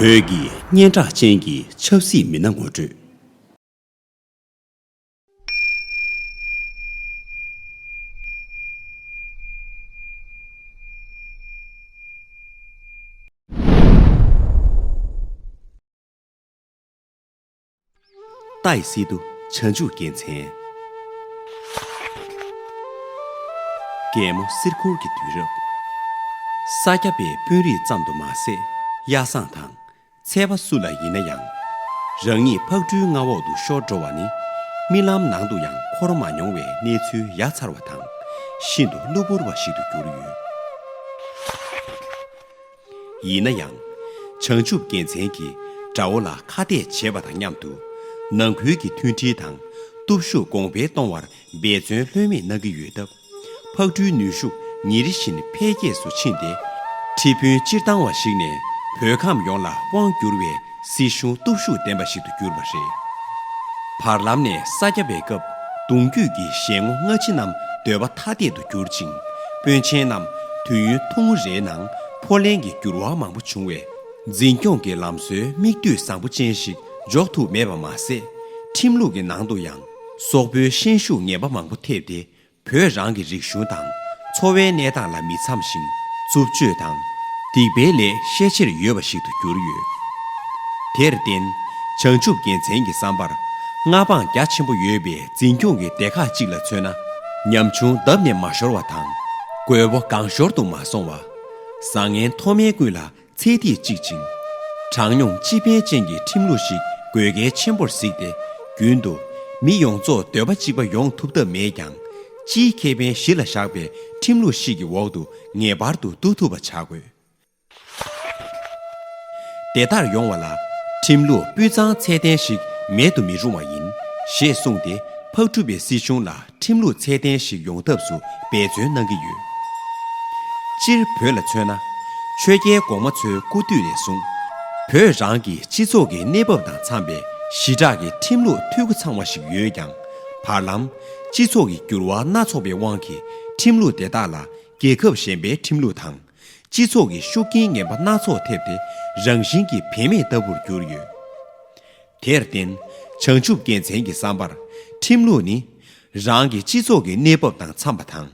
བོད་ཀྱི་སྙན་གྲགས་ཅན་གྱི་ཆབ་སྲིད་མི་སྣ་ངོ་སྤྲོད། རྟ་ཡི་སྲིད་དུ་བྱང་ཆུབ་རྒྱལ་མཚན། རྒྱལ་མོ་གསེར་འཁོར་གྱི་དུས་རབས། ས་སྐྱ་པའི་དཔོན་རིགས་ཙམ་དུ་མ་ཟད་གཡའ་བཟང་དང་ཚལ་པ་སུ་ལ་ཡིན་ན་ཡང། རང་ཉིད་ཕག་གྲུའི་མངའ་འོག་ཏུ་ཤོར་འགྲོ་བ་ནི་རྨི་ལམ་ནང་དུ་ཡང་འཁོར་མ་མྱོང་བའི་གནས་ཚུལ་ཡ་མཚར་བ་དང་ཤིན་ཏུ་གློ་བུར་བ་ཞིག་ཏུ་གྱུར་ཡོད། ཡིན་ན་ཡང། བྱང་ཆུབ་རྒྱལ་མཚན་གྱི་དགྲ་བོ་ལ་ཁ་གཏད་བྱེད་པ་དང་མཉམ་དུ། ནང་ཁུལ་གྱི་མཐུན་སྒྲིལ་དང་སྟོབས་ཤུགས་གོང་འཕེལ་གཏོང་བར་འབད་བརྩོན་ལྷོད་མེད་གནང་གི་ཡོད་སྟབས། ཕག་གྲུའི་ནུས་ཤུགས་ཉིན་རེ་བཞིན་འཕེལ་རྒྱས་སུ་ཕྱིན་ཏེ། ཁྲི་དཔོན་སྤྱིར་བཏང་བ་ཞིག་ནས་བོད་ཁམས་ཡོངས་ལ་དབང་བསྒྱུར་བའི་སྲིད་གཞུང་སྟོབས་ཤུགས་ལྡན་པ་ཞིག་ཏུ་གྱུར་པ་རེད། བར་ལམ་ནས་ས་སྐྱ་པའི་སྐབས་གདུང་རྒྱུད་ཀྱི་ཞལ་ངོ་སྔ་ཕྱི་རྣམས་སྡོད་པ་ཐ་དད་དུ་གྱུར་ཅིང་དཔོན་ཆེན་རྣམས་དུས་ཡུན་ཐུང་ངུ་རེའི་ནང་འཕོ་ལེན་གྱི་འགྱུར་བ་མང་པོ་བྱུང་བས། འཛིན་སྐྱོང་གི་ལམ་སྲོལ་མིག་ལྟོས་བཟང་པོ་ཅན་ཞིག་འཇོག་ཐུབ་མེད་པ་མ་ཟད། ཁྲིམས་ལུགས་ཀྱི་ནང་དུ་ཡང་སོག་པོའི་ཤན་ཤུགས་ངན་པ་མང་པོ་ཐེབས་ཏེ་བོད་རང་གི་རིག་གཞུང་དང་འཚོ་བའི་གནས་སྟངས་ལ་མི་འཚམ་ཞིང་རྩུབ་སྤྱོད་དང་སྡིག་པའི་ལས་ཤས་ཆེར་ཡོད་པ་ཞིག་ཏུ་གྱུར་ཡོད། དེར་བརྟེན་བྱང་ཆུབ་རྒྱལ་མཚན་གྱི་བསམ་པར་མངའ་འབངས་རྒྱ་ཆེན་པོ་ཡོད་པའི་འཛིན་སྐྱོང་གི་སྡེ་ཁག་ཅིག་ལ་མཚོན་ན་ཉམ་ཆུང་བརྡབ་ནས་མ་ཤོར་བ་དང་རྒོད་པོ་སྒང་ཤོར་དུ་མ་སོང་བ། བཟང་ངན་མཐོ་དམན་ཀུན་ལ་ཚད་ཐིག་གཅིག་ཅིང། གྲངས་ཉུང་སྤྱི་ཕན་ཅན་གྱི་ཁྲིམས་ལུགས་ཤིག་དགོས་གལ་ཆེན་པོར་གཟིགས་ཏེ། རྒྱུན་དུ། མི་ཡོངས་རྫོགས་འདོད་པ་གཅིག་པ་ཡོང་ཐུབ་ཐབས་མེད་ཀྱང། སྤྱིའི་ཁེ་ཕན་གཞི་ལ་བཞག་པའི་ཁྲིམས་ལུགས་ཤིག་གི་འོག་ཏུ་ངེས་པར་དུ་འདུ་ཐུབ་པ་བྱ་དགོས། དེ་ལྟར་ཡོང་བ་ལ། ཁྲིམས་ལུགས་སྤུས་གཙང་ཚད་ལྡན་ཞིག་མེད་དུ་མི་རུང་བ་ཡིན། ཞེས་གསུངས་ཏེ་ཕག་གྲུ་པའི་སྲིད་གཞུང་ལ་ཁྲིམས་ལུགས་ཚད་ལྡན་ཞིག་ཡོང་ཐབས་སུ་འབད་བརྩོན་གནང་གི་ཡོད། སྤྱིར་བོད་ལ་མཚོན་ན། ཆོས་རྒྱལ་གོང་མ་ཚོའི་སྐུ་དུས་ནས་བཟུང། བོད་རང་གི་སྤྱི་ཚོགས་ཀྱི་གནས་བབ་དང་འཚམས་པའི་ཞི་དྲག་གི་ཁྲིམས་ལུགས་འཐུས་སྒོ་ཚང་བ་ཞིག་ཡོད་ཀྱང། བར་ལམ། སྤྱི་ཚོགས་ཀྱི་འགྱུར་བ་སྣ་ཚོགས་པའི་དབང་གིས་ཁྲིམས་ལུགས་དེ་དག་ལ་རྒྱལ་ཁབ་གཞན་པའི་ཁྲིམས་ལུགས་དང། སྤྱི་ཚོགས་ཀྱི་ཤུགས་རྐྱེན་ངན་པ་སྣ་ཚོགས་ཐེབས་ཏེ་རང་བཞིན་གྱིས་བེད་མེད་ལྟ་བུར་གྱུར་ཡོད། དེར་བརྟེན་བྱང་ཆུབ་རྒྱལ་མཚན་གྱི་བསམ་པར་ཁྲིམས་ལུགས་ནི། རང་གི་སྤྱི་ཚོགས་ཀྱི་གནས་བབ་དང་འཚམས་པ་དང་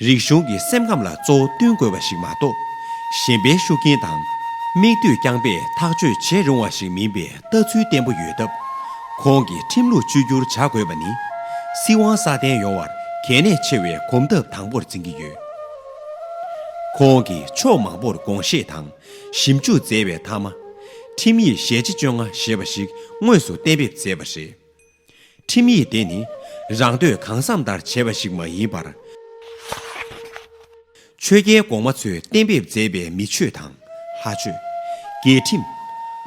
རིག་གཞུང་གི་སེམས་ཁམས་ལ་གཙོ་བོ་བསྟུན་དགོས་པ་ཞིག་མ་གཏོགས། གཞན་པའི་ཤུགས་རྐྱེན་དང། མིག་ལྟོས་རྐྱང་པས་ཐག་གཅོད་བྱེད་རུང་བ་ཞིག་མིན་པའི་ལྟ་ཚུལ་བརྟན་པོ་ཡོད་སྟབས། ཁོང་གིས་ཁྲིམས་ལུགས་བཅོས་བསྒྱུར་བྱ་དགོས་པ་ནི། སྲིད་དབང་སྲ་བརྟན་ཡོང་བར་གལ་གནད་ཆེ་བའི་གོམ་སྟབས་དང་པོར་འཛིན་གྱི་ཡོད། ཁོང་གིས་ཕྱོགས་མང་པོར་དགོངས་བཞེས་དང་ཞིབ་འཇུག་མཛད་པའི་མཐའ་མ། ཁྲིམས་ཡིག་ཞལ་ལྕེ་བཅོ་ལྔ་ཞེས་པ་ཞིག་དངོས་སུ་གཏན་འབེབས་མཛད་པ་རེད། ཁྲིམས་ཡིག་དེ་ནི་རང་འདོད་གང་བསམ་ལྟར་བྱས་པ་ཞིག་མ་ཡིན་པར། ཆོས་རྒྱལ་གོང་མ་ཚོས་གཏན་འབེབས་མཛད་པའི་མི་ཆོས་དང། ལྷ་ཆོས། རྒྱལ་ཁྲིམས།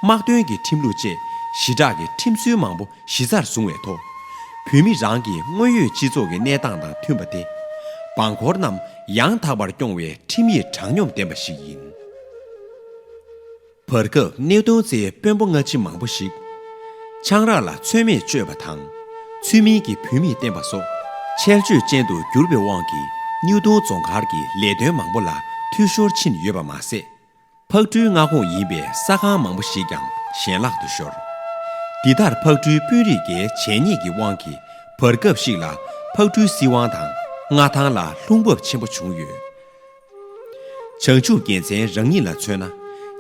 དམག་དོན་གྱི་ཁྲིམས་ལུགས་བཅས་ཞི་དྲག་གི་ཁྲིམས་སྲོལ་མང་པོ་གཞི་རྩར་བཟུང་བའི་ཐོག་བོད་མི་རང་གི་དངོས་ཡོད་སྤྱི་ཚོགས་ཀྱི་གནས་སྟངས་དང་མཐུན་པ་སྟེ། འབངས་འཁོར་རྣམས་ཡང་དག་པར་སྐྱོང་བའི་ཁྲིམས་ཡིག་དྲང་སྙོམས་ལྡན་པ་ཞིག་ཡིན། བར་སྐབས་གནད་དོན་ཚེ་དཔོན་པོ་སྔ་ཕྱི་མང་པོ་ཞིག་ཆང་རག་ལ་ཚོད་མེད་སྤྱོད་པ་དང། ཚུལ་མིན་གྱི་བུད་མེད་བསྟེན་པ་སོགས་ཆལ་ཆོལ་ཅན་དུ་གྱུར་པའི་དབང་གིས་སྙུ་གདོང་རྫོང་མཁར་གྱི་ལས་དོན་མང་པོ་ལ་འཐུས་ཤོར་ཕྱིན་ཡོད་པ་མ་ཟད། ཕག་གྲུའི་མངའ་ཁོངས་ཡིན་པའི་ས་ཁང་མང་པོ་ཞིག་ཀྱང་ཞེན་ལག་ཏུ་ཤོར། འདི་ལྟར་ཕག་གྲུའི་དཔོན་རིགས་འགའི་བྱས་ཉེས་ཀྱི་དབང་གིས་བར་སྐབས་ཤིག་ལ་ཕག་གྲུའི་སྲིད་དབང་དང་མངའ་ཐང་ལ་ལྷུང་འབབ་ཆེན་པོ་བྱུང་ཡོད། བྱང་ཆུབ་རྒྱལ་མཚན་རང་ཉིད་ལ་མཚོན་ན་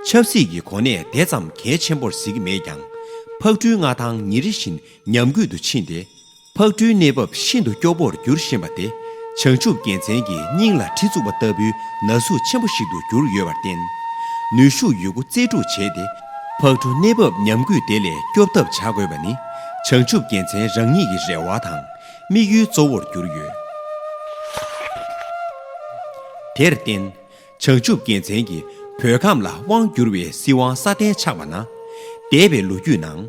ཆབ་སྲིད་ཀྱི་གོ་གནས་དེ་ཙམ་གལ་ཆེན་པོར་གཟིགས་མེད་ཀྱང་ཕག་གྲུའི་མངའ་ཐང་ཉིན་རེ་བཞིན་ཉམས་རྒུད་དུ་ཕྱིན་ཏེ་ཕག་གྲུའི་གནས་བབ་ཤིན་ཏུ་སྐྱོ་བོར་འགྱུར་བཞིན་པ་དེ་བྱང་ཆུབ་རྒྱལ་མཚན་གྱི་སྙིང་ལ་གྲི་བཙུགས་པ་ལྟ་བུའི་ན་ཟུག་ཆེན་པོ་ཞིག་ཏུ་གྱུར་ཡོད་པར་བརྟེན། ནུས་ཤུགས་ཡོད་རྒུ་རྩལ་སྤྲུགས་བྱས་ཏེ་ཕག་གྲུ་གནས་བབ་ཉམས་རྒུད་དེ་ལས་སྐྱོབ་ཐབས་བྱ་དགོས་པ་ནི་བྱང་ཆུབ་རྒྱལ་མཚན་རང་ཉིད་ཀྱི་རེ་བ་དང་དམིགས་ཡུལ་གཙོ་བོར་གྱུར་ཡོད། དེར་བརྟེན། བྱང་ཆུབ་རྒྱལ་མཚན་གྱི་བོད་ཁམས་ལ་དབང་བསྒྱུར་བའི་སྲིད་དབང་སྲ་བརྟན་ཆགས་པ་ན། འདས་པའི་ལོ་རྒྱུས་ནང།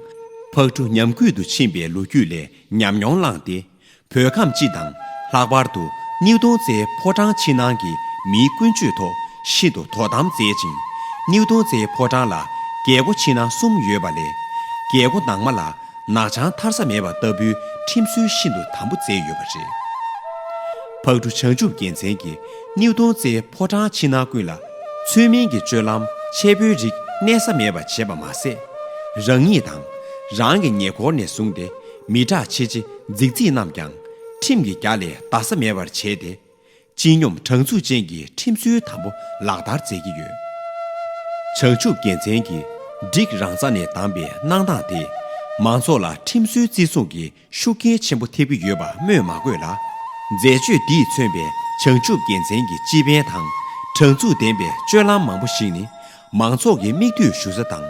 ཕག་གྲུ་ཉམས་རྒུད་དུ་ཕྱིན་པའི་ལོ་རྒྱུས་ལས་ཉམས་མྱོང་བླངས་ཏེ། བོད་ཁམས་སྤྱི་དང་ལྷག་པར་དུ་སྙིགས་དུང་རྩེའི་ཕོ་བྲང་ཕྱི་ནང་གི་མིའི་ཀུན་སྤྱོད་ཐོག་ཤིན་ཏུ་དོ་དམ་མཛད་ཅིང། སྙིགས་དུང་རྩེའི་ཕོ་བྲང་ལ་རྒྱལ་སྒོ་ཕྱི་ནང་གསུམ་ཡོད་པ་ལས། རྒྱལ་སྒོ་ནང་མ་ལ་ནག་བྱང་མཐར་ས་མེད་པ་ལྟ་བུའི་ཁྲིམས་སྲོལ་ཤིན་ཏུ་དམ་པོ་མཛད་ཡོད་པ་རེད། ཕག་གྲུ་བྱང་ཆུབ་རྒྱལ་མཚན་གྱི་སྣེའུ་སྟོང་རྩའི་ཕོ་བྲང་ཕྱི་ནང་ཀུན་ལ། ཚུལ་མིན་གྱི་སྤྱོད་ལམ་འཆལ་པོའི་རིགས་གནས་ས་མེད་པར་བྱེད་པ་མ་ཟད། རང་ཉིད་དང། རང་གི་ཉེ་འཁོར་ནས་བཟུང་སྟེ་མི་དྲག་ཆེ་ཆེ་རྫིག་རྫིག་རྣམས་ཀྱང། ཁྲིམས་ཀྱི་རྒྱ་ལས་འདའ་ས་མེད་པར་བྱས་ཏེ། སྤྱི་སྙོམས་དྲང་ཚུགས་ཅན་གྱི་ཁྲིམས་སྲོལ་དམ་པོ་ལག་བསྟར་མཛད་ཀྱི་ཡོད། བྱང་ཆུབ་རྒྱལ་མཚན་གྱིས་སྒྲིག་རང་རྩ་ནས་བདམས་པའི་གནང་སྟངས་དེས་མང་ཚོགས་ལ་ཁྲིམས་སྲོལ་བརྩི་སྲུང་གི་ཤུགས་རྐྱེན་ཆེན་པོ་ཐེབས་ཀྱི་ཡོད་པ་སྨོས་མ་དགོས་ལ། མཛད་སྤྱོད་འདིས་མཚོན་པའི་བྱང་ཆུབ་རྒྱལ་མཚན་གྱི་སྤྱི་ཕན་དང་དྲང་ཚུགས་ལྡན་པའི་སྤྱོད་ལམ་མང་པོ་ཞིག་ནི་མང་ཚོགས་ཀྱི་མིག་ལྟོས་ཞུ་ས་དང་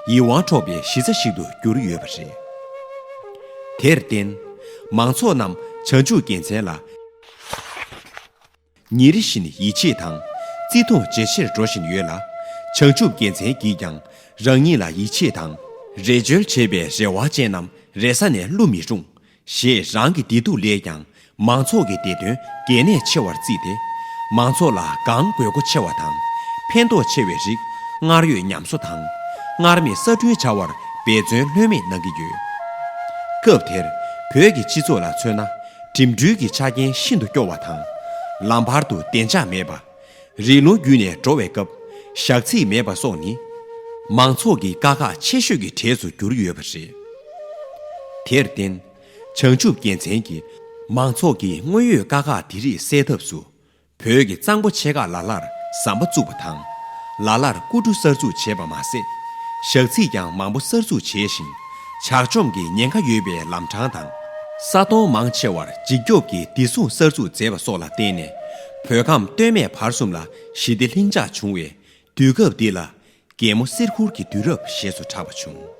ཡིད་དབང་འཕྲོག་པའི་གཞི་རྩ་ཞིག་ཏུ་གྱུར་ཡོད་པ་རེད། དེར་བརྟེན། མང་ཚོགས་རྣམས་བྱང་ཆུབ་རྒྱལ་མཚན་ལ། ཉིན་རེ་བཞིན་ཡིད་ཆེས་དང་བརྩི་མཐོང་ཇེ་ཆེར་འགྲོ་བཞིན་ཡོད་ལ། བྱང་ཆུབ་རྒྱལ་མཚན་གྱིས་ཀྱང་རང་ཉིད་ལ་ཡིད་ཆེས་དང། རེ་བཅོལ་བྱེད་པའི་རེ་བ་ཅན་རྣམས་རེ་ས་ནས་བསླུ་མི་རུང། ཞེས་རང་གི་བདེ་སྡུག་ལས་ཀྱང་མང་ཚོགས་ཀྱི་བདེ་དོན་གལ་གནད་ཆེ་བར་བརྩིས་ཏེ། མང་ཚོགས་ལ་སྒང་དགོས་མཁོ་ཆེ་བ་དང་ཕན་ཐོགས་ཆེ་བའི་རིགས་སྔར་ཡོད་ཉམས་གསོ་དང། སྔར་མེད་གསར་སྐྲུན་བྱ་བར་འབད་བརྩོན་ལྷོད་མེད་གནང་གི་ཡོད། སྐབས་དེར་བོད་ཀྱི་སྤྱི་ཚོགས་ལ་མཚོན་ན་འགྲིམ་འགྲུལ་གྱི་ཆ་རྐྱེན་ཤིན་ཏུ་སྐྱོ་བ་དང། ལམ་བར་དུ་བདེ་འཇགས་མེད་པ། རི་ལུང་བརྒྱུད་ནས་འགྲོ་བའི་སྐབས་ཞག་ཚིགས་མེད་པ་སོགས་ནི། མང་ཚོགས་ཀྱི་དཀའ་ཁག་ཆེ་ཤོས་ཀྱི་གྲས་སུ་གྱུར་ཡོད་པ་རེད། དེར་བརྟེན། བྱང་ཆུབ་རྒྱལ་མཚན་གྱིས་མང་ཚོགས་ཀྱི་དངོས་ཡོད་དཀའ་ཁག་དེ་རིགས་སེལ་ཐབས་སུ་བོད་ཀྱི་གཙང་པོ་ཆེ་ཁག་ལ་ལར་ཟམ་པ་བཙུགས་པ་དང། ལ་ལར་སྐུ་གྲུ་གསར་འཛུགས་བྱས་པ་མ་ཟད། ཞག་ཚིགས་ཀྱང་མང་པོ་གསར་འཛུགས་བྱས་ཤིང། ཇག་ཆོམ་གྱི་ཉེན་ཁ་ཡོད་པའི་ལམ་འཕྲང་དང། ས་དོང་མང་ཆེ་བར་འཇིགས་སྐྱོབ་ཀྱི་བདེ་སྲུང་གསར་འཛུགས་མཛད་པ་སོགས་ལ་བརྟེན་ནས་བོད་ཁམས་སྟོད་སྨད་བར་གསུམ་ལ་ཞི་བདེ་ལྷིང་འཇགས་བྱུང་བའི་དུས་སྐབས་འདི་ལ། རྒྱལ་མོ་གསེར་ཁུར་གྱི་དུས་རབས་ཞེས་སུ་གྲགས་པ་བྱུང།